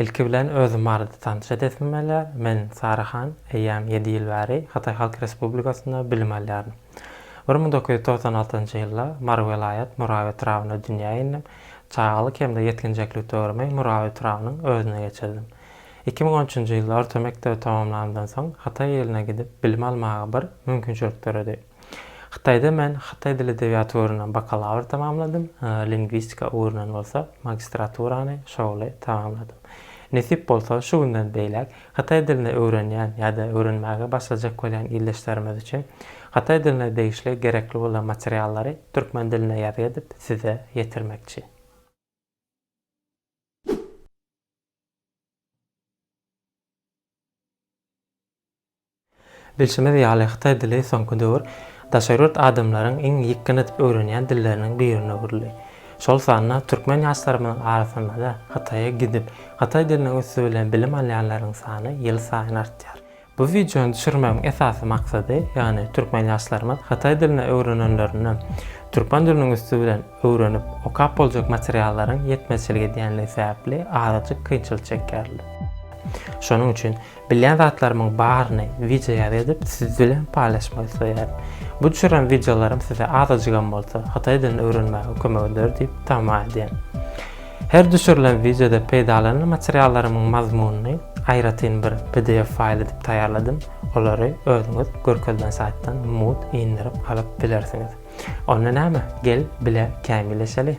Ilki bilen özüm barada tanyş edesim gelýär. Men Sara Han, eýýäm ýedi ýyl bäri Hytaý Halk Respublikasynda bilim alýaryn. Bir müň dokuz ýüz togsan altynjy ýylda Mary welaýat Muraw etrabynda dünýä indim. Çagalyk hem-de ýetginjeklik döwrümi Muraw etrabynyň özünde geçirdim. Iki müň on üçünji ýylda orta mekdebi tamamlanymdan soň Hytaý iline gidip bilim almaga bir mümkinçilik döredi. Hytaýda men hytaý dili edebiýaty ugrundan bakalawr tamamladym, lingwistika ugrundan bolsa magistraturany şowly tamamladym. Nesip bolsa, şu günden beýläk hytaý dilini öwrenýän ýa-da öwrenmäge başlajak bolýan ildeşlerimiz üçin hytaý diline degişli gerekli bolan materiallary türkmen dilinde ýazgy edip size ýetirmekçi. Bilşimiz ýaly, hytaý dili soňky döwür daşary ýurt adamlaryň iň ýykgyn edip öwrenýän dilleriniň birine öwrüldi. Şol sanda türkmen ýaşlarymyzyň arasynda-da Hytaýa gidip, hytaý diliniň üsti bilen bilim alýanlaryň sany ýylsaýyn artýar. Bu wideony düşürmegiň esasy maksady, ýagny türkmen ýaşlarymyz hytaý dilini öwrenenlerinde, türkmen diliniň üsti bilen öwrenip, okap boljak materiallaryň ýetmezçilik edýänligi sebäpli azajyk kynçylyk çekýärler. Şonuň üçin Bilýän zatlarymyň baryny wideo ýaly edip siz bilen paýlaşmak isleýärin. Bu düşüren wideolarym size azajygam bolsa hytaý dilini öwrenmäge kömek eder diýip tama edýän. Her düşürilen wideoda peýdalanan materiallarymyň mazmunyny aýratyn bir pdf faýl edip taýýarladym, olary özüňiz görkezilen saýtdan mut indirip alyp bilersiňiz. Onda näme, gel bile kämilleşeli!